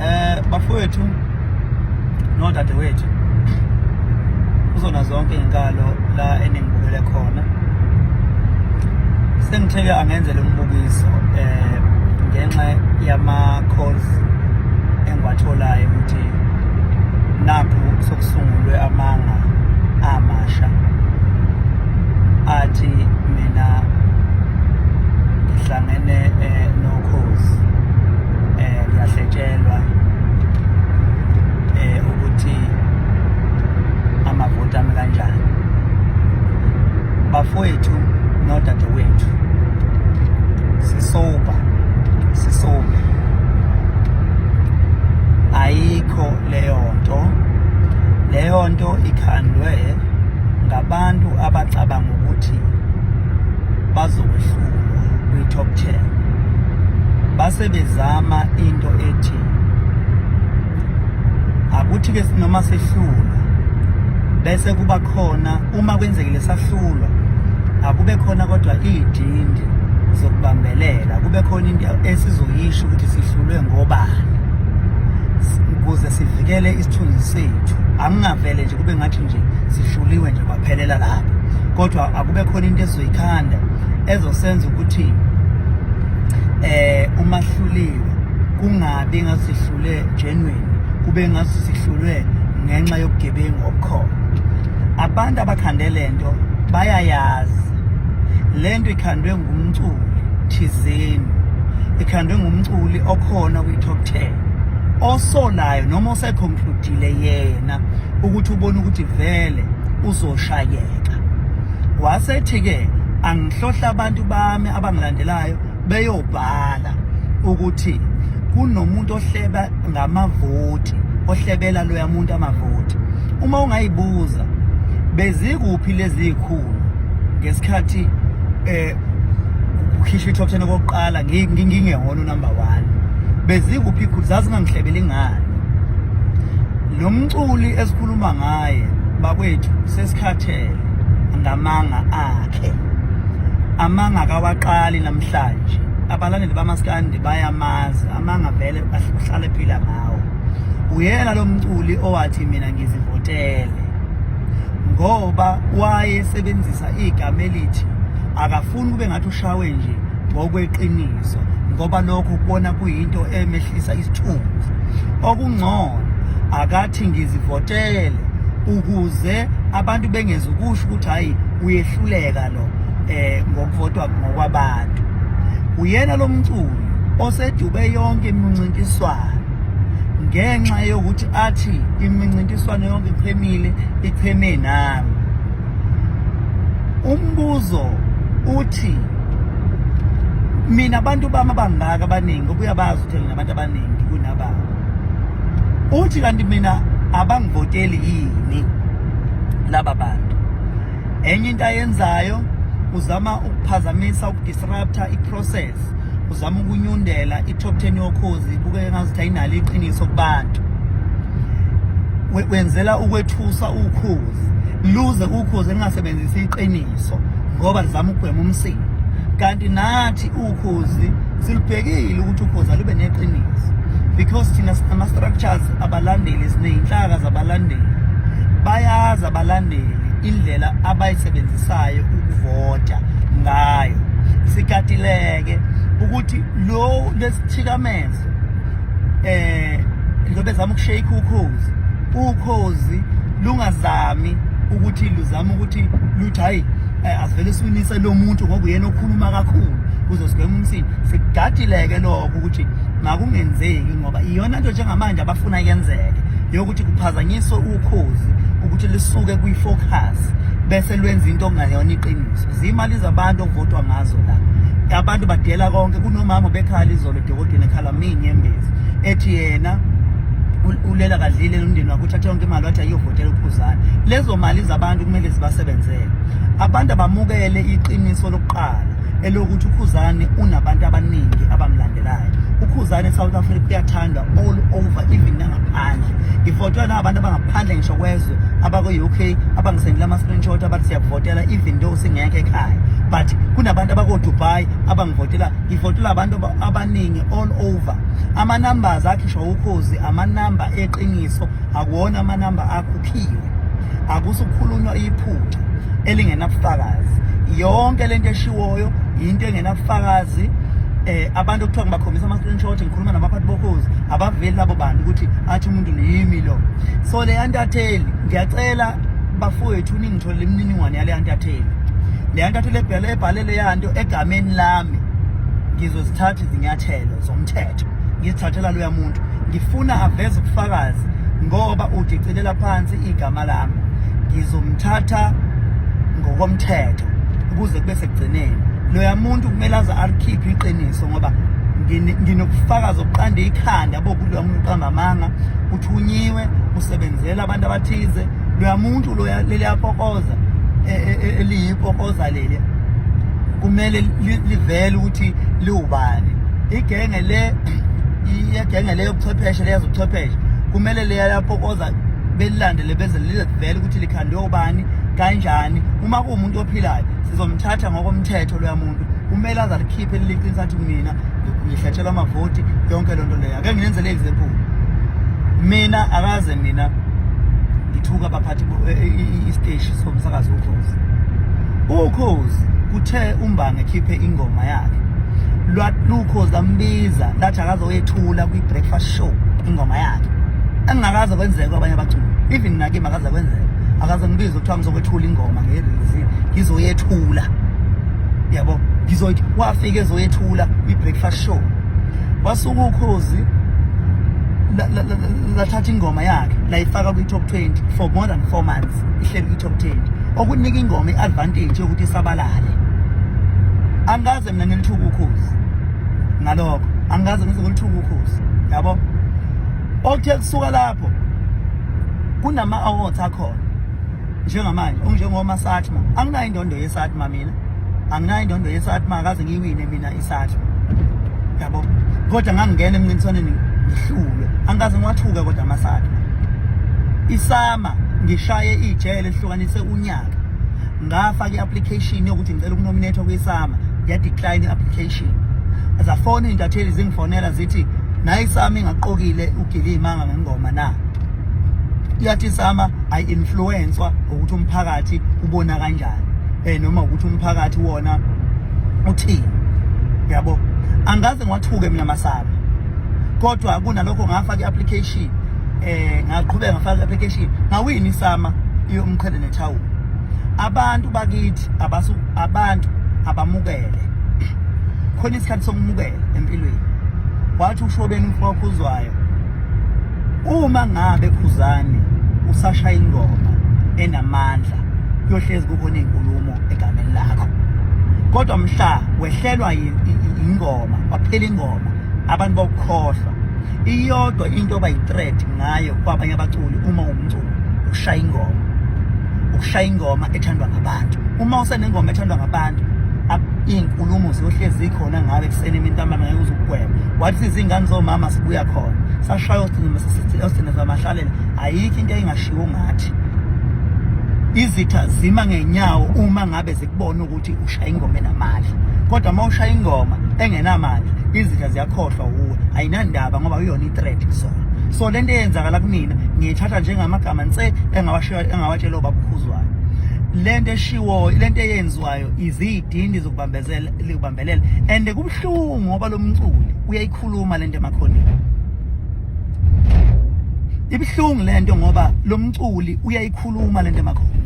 Eh bafowethu nodadewethu kuzona zonke izinkalo la eningibukele khona sengitheke angenzele umbukiso eh ngenxa yama calls engiwatholayo ukuthi nakho sokusungulwe amanga amasha athi mina ngihlangene eh, no cause eh ngiyahletshelwa eh ukuthi amavoti ami kanjani bafowethu nodadewethu sisoba sisoba ayikho leyo nto leyo nto ikhandwe ngabantu abacabanga ukuthi bazokwehlulwa kwi-top 10 base bezama into ethi akuthi ke noma sehlulwa bese kuba khona uma kwenzekile sahlulwa akube khona kodwa idindi zokubambelela kube khona into esizoyisho ukuthi sihlulwe ngobani ukuze sivikele isithunzi sethu angingavele nje kube ngathi nje sihluliwe nje phelela lapho kodwa akube khona into ezoyikhanda ezosenza ukuthi eh uma hluliwe kungabi ngasihlule genuine kube ngasihlulwe ngenxa yobugebengu obukhona abantu abakhande lento bayayazi lento ikhandwe ngumculi thizeni ikhandwe ngumculi okhona kwi-top 10 osolayo noma oseconcludile yena ukuthi ubona ukuthi vele uzoshayeka wasethi-ke angihlohla abantu bami abangilandelayo beyobhala ukuthi kunomuntu ohleba ngamavoti ohlebela loya muntu amavoti uma ungayibuza bezikuphi lezi zikhulu ngesikhathi eh ukukhishwa i-top ten okokuqala ngingehona unumber one bezikuphi iphutha zazingangihlebeli ngani lo mculi esikhuluma ngaye bakwethu sesikhathele ngamanga akhe amanga kawaqali namhlanje abalandeli bamaskandi bayamazi amanga vele uhlale phila ngawo uyena lo mculi owathi mina ngizivotele ngoba wayesebenzisa igama elithi akafuni kube ngathi ushawe nje ngokweqiniso ngoba lokho kubona kuyinto emehlisa isithunzi okungcono akathi ngizivotele ukuze abantu bengeze ukusho ukuthi hayi uyehluleka lo eh ngokuvotwa ngokwabantu uyena lomculi osedube yonke imincintiswano ngenxa yokuthi athi imincintiswano yonke ichemile icheme nami umbuzo uthi mina abantu bami abangaka abaningi obuya bazi ukuthi nginabantu abaningi kunababa uthi kanti mina abangivoteli yini laba bantu enye into ayenzayo uzama ukuphazamisa ukudisrupta iprocess uzama ukunyundela i-top 10 yokhozi kubukeka ngazuthi ayinalo iqiniso kubantu wenzela ukwethusa ukhozi luze ukhozi elingasebenzisi iqiniso ngoba lizama ukugwema umsindo kanti nathi ukhozi silubhekile ukuthi ukhozi alube neqiniso because thina ama-structures abalandeli siney'nhlaka zabalandeli bayazi abalandeli indlela abayisebenzisayo ukuvota ngayo sikatileke ukuthi lo lesithikamezo eh lobe zama ukushake ukhozi ukhozi lungazami ukuthi luzama ukuthi luthi hayi eh, asivele siwinise lo muntu ngoba uyena okhuluma kakhulu kuze sigweme umsini sigadileke lokho ukuthi makungenzeki ngoba iyona nto njengamanje abafuna yenzeke yokuthi kuphazanyiswe ukhozi ukuthi lisuke kwi-focus bese lwenza into okungayona iqiniso ziyimali zabantu okuvotwa ngazo la abantu badela konke kunomama bekhala izolo edokodweni ekhala minyembezi ethi yena ulela kadlile nomndeni wakho uthathe yonke imali wathi ayiyovotela uphuzana lezo mali zabantu kumele zibasebenzele abantu abamukele iqiniso lokuqala elokuthi ukhuzane unabantu abaningi abamlandelayo ukhuzane south africa uyathandwa all over even nangaphandle ngivotela nabantu abangaphandle ngisho kwezwe abakwe-u k abangisendela ama-screenshot abathi siyakuvotela even though singekho ekhaya but kunabantu abakodubai abangivotela ngivotela abantu abaningi all over ama-numbers akhishwa ukhozi amanamba eqiniso akuwona amanamba akhuphiwe akusukhulunywa iphutha elingenabufakazi yonke lento eshiwoyo into engenabufakazi eh abantu okuthiwa ngibakhombisa ama-screenshot ngikhuluma nabaphathi bokhozi abaveli labo bantu ukuthi athi umuntu niyimi lo so le yantatheli ngiyacela bafowethu ningitholele imininingwane yale yantatheli le yantatheli ebhele ebhale le yanto egameni lami ngizozithatha izinyathelo zomthetho ngizithathela loya muntu ngifuna aveze ubufakazi ngoba udicilela phansi igama lami ngizomthatha ngokomthetho ukuze kube sekugcineni loya muntu kumele aze alikhiphe iqiniso ngoba nginokufakaza okuqanda ikhanda bokuloya muntu uqamba amanga uthunyiwe usebenzela abantu abathize loya muntu loya leliyapokoza e, e, e, eliyipokoza leli kumele livele ukuthi liwubani igenge le iyegenge leyo buchwepheshe leyazi ubuchwepheshe kumele leya lapho koza belilandele beze lizivele ukuthi likhandwe ubani kanjani uma kuwumuntu ophilayo sizomthatha ngokomthetho loya muntu kumele aze alikhiphe liliqinisa athi mina ngihlatshelwa amavoti yonke loo nto leyo ake nginenzele example mina akaze mina ngithuka abaphathi eh, eh, eh, isiteshi somsakazi ukhozi ukhozi Uthe uMbange ekhiphe ingoma yakhe lwalukho zambiza lathi akazoyethula kwi-breakfast show ingoma yakhe engingakaze kwenzeka kwabanye abaculi even nakimi akaze kwenzeka akaze ngibize kuthiwa ngizokwethula ingoma ngerizi ngizoyethula yabo ngizoyithi wafika ezoyethula kwi-breakfast show wasuka ukhozi lathatha ingoma yakhe layifaka kwi-top 20 for more than four months ihleli kwi-top 10 okunika ingoma i-advantage yokuthi isabalale angikaze mina ngilithuka ukhozi ngalokho angikaze ngize ngilithuka ukhozi yabo okuthe kusuka lapho kunama-awards akhona njengamanje onjengomasatma anginayo indondo yesatma mina anginayo indondo yesatma akaze ngiyiwine mina isatma yabo kodwa ngangingena emncintiswaneni ngihlulwe angikaze ngiwathuke kodwa amasatma isama Ba, ngishaye ijele lihlukanise unyaka ngafaka i-application yokuthi ngicela ukunominethwa kwisama yadecline i-application zafona iy'ntatheli zingifonela zithi naye isama ingaqokile ugile iy'manga ngengoma na iyathi isama ayi-influenswa ukuthi umphakathi ubona kanjani um noma ukuthi umphakathi wona uthini yabo angikaze ngiwathuke mina masaba kodwa kunalokho ngafaka i-application eh ngaqhubeka ngafaka application ngawini isama iyomqhele nethawula abantu bakithi abasu abantu abamukele khona isikhathi sokumukela empilweni wathi ushobeni umfowakho uzwayo uma ngabe khuzani usashaya ingoma enamandla kuyohlezi kukhona izinkulumo egameni lakho kodwa mhla wehlelwa ingoma kwaphela ingoma abantu bokukhohlwa iyodwa into abayi-threat ngayo kwabanye abaculi uma umculo ushaya ingoma ukushaya ingoma ethandwa ngabantu uma usenengoma ethandwa ngabantu iy'nkulumo ziyohlezi khona ngabe ekuseni imintambama ngeke uze ukugwema wathi izingane zomama sibuya khona sashaya osinezamahlalela zamahlalela ayikho into eyingashiwo ngathi izitha zima ngenyawo uma ngabe bona ukuthi ushaya ingoma enamandla kodwa uma ushaya ingoma engenamandla izitha ziyakhohlwa wuwe ayinandaba ngoba uyona i-threat kusona so le nto eyenzakala kumina ngiyithatha njengamagama nse engawatshela obabukhuzwayo le nto eshiwoyo le nto eyenziwayo izidindi zokubambelela and kubuhlungu ngoba lo mculi uyayikhuluma le nto emakhoneni ibuhlungu le nto ngoba lo mculi uyayikhuluma le nto emakhoneni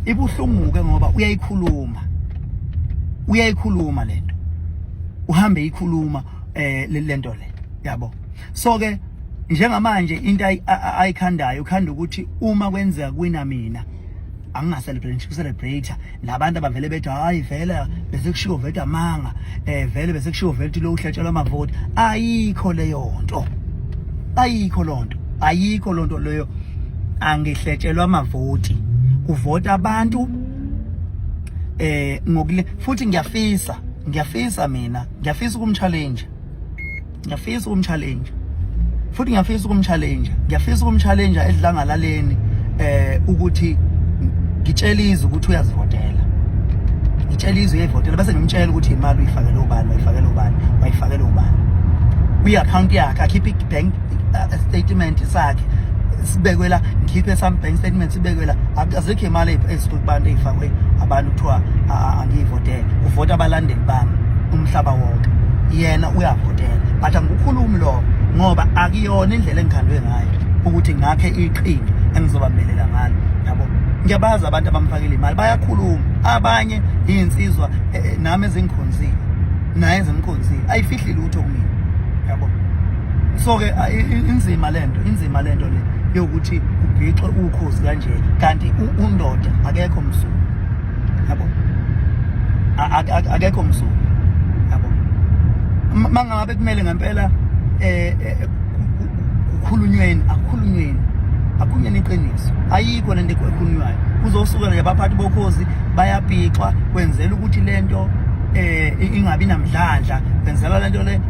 ibuhlungu ke ngoba uyayikhuluma uyayikhuluma lento uhambe ikhuluma eh lento le yabo so ke njengamanje into ayikhandayo ukhanda ukuthi uma kwenzeka kwina mina angingacelebrate ngisho celebrate nabantu abavele bethi hayi vele besekushiwo vele amanga eh vele besekushiwo vele ukuthi lo uhlatshelwa amavoti ayikho leyo nto ayikho lonto ayikho lonto leyo angihletshelwa amavoti kuvota abantu eh ngokule futhi ngiyafisa ngiyafisa mina ngiyafisa ukumchallenge ngiyafisa ukumchallenge futhi ngiyafisa ukumchallenge ngiyafisa ukumchallenge edlangalaleni eh ukuthi ngitshela izwe ukuthi uyazivotela ngitshela izwe uyayivotela bese ngimtshela ukuthi imali uyifakele ubani wayifakele ubani wayifakele ubani kwi-account yakhe akhiphe i-bank uh, statement sakhe sibekwe la ngikhiphe some bank statement sibekwe la azikho imali sikuthi abantu ey'fakwe abantu kuthiwa angiyivotele uvota abalandeli bami umhlaba wonke yena uyavotela but angikukhulumi lokho ngoba akuyona indlela engikhandwe ngayo ukuthi ngakhe iqhinga engizobambelela ngalo yabo ngiyabazi abantu abamfakela imali bayakhuluma abanye iy'nsizwa eh, eh, nami ezingikhonzile naye ezimkhonzile ayifihli lutho kumina so ke inzima lento inzima lento le yokuthi ubhixwe ukhozi kanje kanti undoda akekho msuku yabo akekho msuku yabo mangabe kumele ngempela eh, eh kukhulunyweni akukhulunyweni akunyeni iqiniso ayikho lento ekhulunywayo kuzosuka nje abaphathi bokhozi bayabhixwa kwenzela ukuthi lento eh ingabi namdlandla kwenzela lento le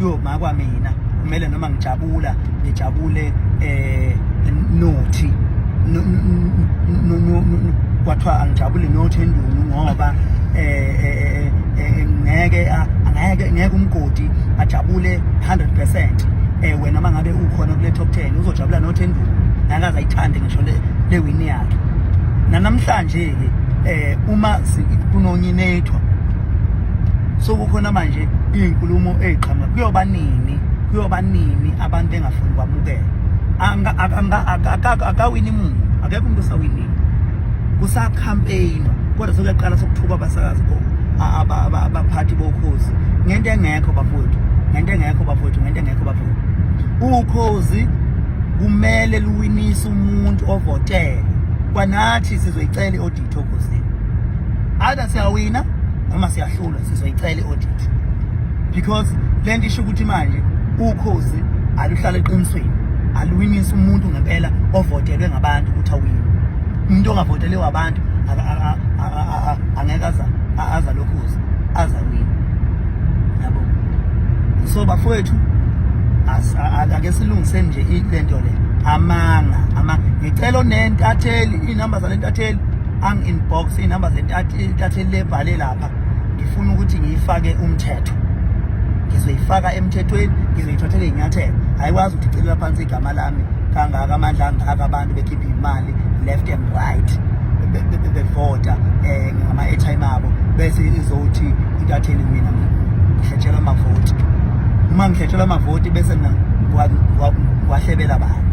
yo makwa mina kumele noma ngijabula ngijabule eh nothi kwathiwa angijabule nothi endunu ngoba eh, eh, eh ngeke angeke ngeke umgodi ajabule 100% eh wena mangabe ukhona kule top 10 uzojabula nothi endunu nakaza ayithande ngisho le le win yakhe nanamhlanje ke eh uma kunonyinethwa so kukhona manje iy'nkulumo ey'qhamuka kuyoba nini kuyoba nini abantu engafuni kwamukela akawini muntu akekho umuntu osawinile kusakhampeyinwa kodwa sekuyaqala sokuthukwa abasakazi abaphathi bokhozi ngento engekho bafowethu ngento engekho bafowethu ngento engekho bafowethu ukhozi kumele luwinise umuntu ovotele kwanathi sizoyicela i-audit okhozini either siyawina noma siyahlulwa sizoyicela i-audit because le nto isho ukuthi manje ukhozi aluhlala eqinisweni aluwinisa umuntu ngempela ovotelwe ngabantu ukuthi awine umuntu ongavotele wabantu angeke aza lokhozi aza wini yabo so bafowethu ake silungiseni nje le nto le amanga ama ngicela onentatheli iy'namba zale ntatheli angi-inbox iy'namba zentathe lebhale lapha ngifuna ukuthi ngiyifake umthetho ngizoyifaka emthethweni ngizoyithathela iy'nyathelo ayikwazi ukuthi icelela phansi igama lami kangaka amandla angaka abantu bekhiphe imali left and right bevota um eh, ngama-airtime abo bese izothi intatheli mina ngihletshela amavoti uma ngihletshela amavoti bese ngiwahlebela bani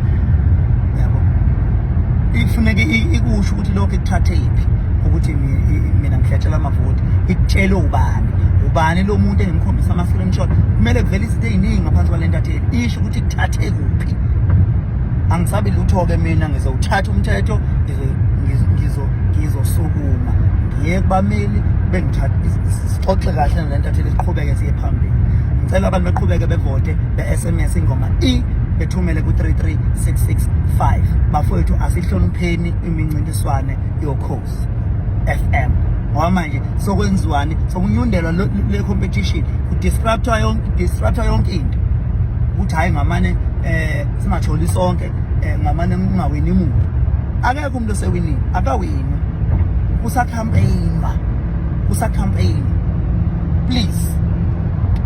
ifuneka ikusho ukuthi lokho ikuthathe iphi ukuthi mina ngihletshela amavoti ikutshele ubani ubani lo muntu engimkhombisa ama-screenshot kumele kuvele izinto ey'ningi ngaphansi kwale ntatheli isho ukuthi kuthathe kuphi angisabi lutho-ke mina ngizowuthatha umthetho ngizosukuma ngiye kubameli bengithatha sixoxe kahle nale ntatheli siqhubeke siye phambili ngicela abantu beqhubeke bevote SMS ingoma i bethumele ku-33665 bafowethu asihlonipheni imincintiswane yokhozi FM ngoba manje sokwenziwani sokunyundelwa le competition kudisruptwa yonke disruptwa yonke into ukuthi hayi ngamane eh singatholi sonke eh, ngamane ngingawini muntu akekho umuntu osewinile akawini kusa campaign ba kusa campaign please